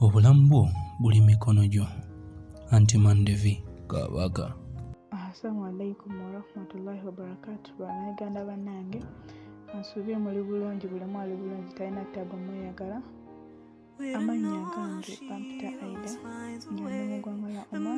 Obulamu bwo buli mikono gyo anti mandevi kabaka. Assalamu alaikum warahmatullahi wabarakatu banayuganda banange nsuubye muli bulungi bulemu ali bulungi talina ttabu mweyagala amannya gange bampita aida nga ndi mu ggwanga lya oman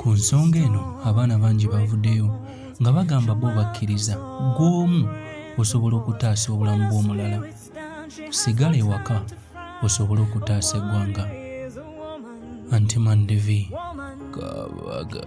Ku nsonga eno abaana bangi bavuddeyo nga bagamba bo bakkiriza gw'omu osobola okutaasa obulamu bw'omulala sigala ewaka osobola okutaasa eggwanga antimandevi kabaga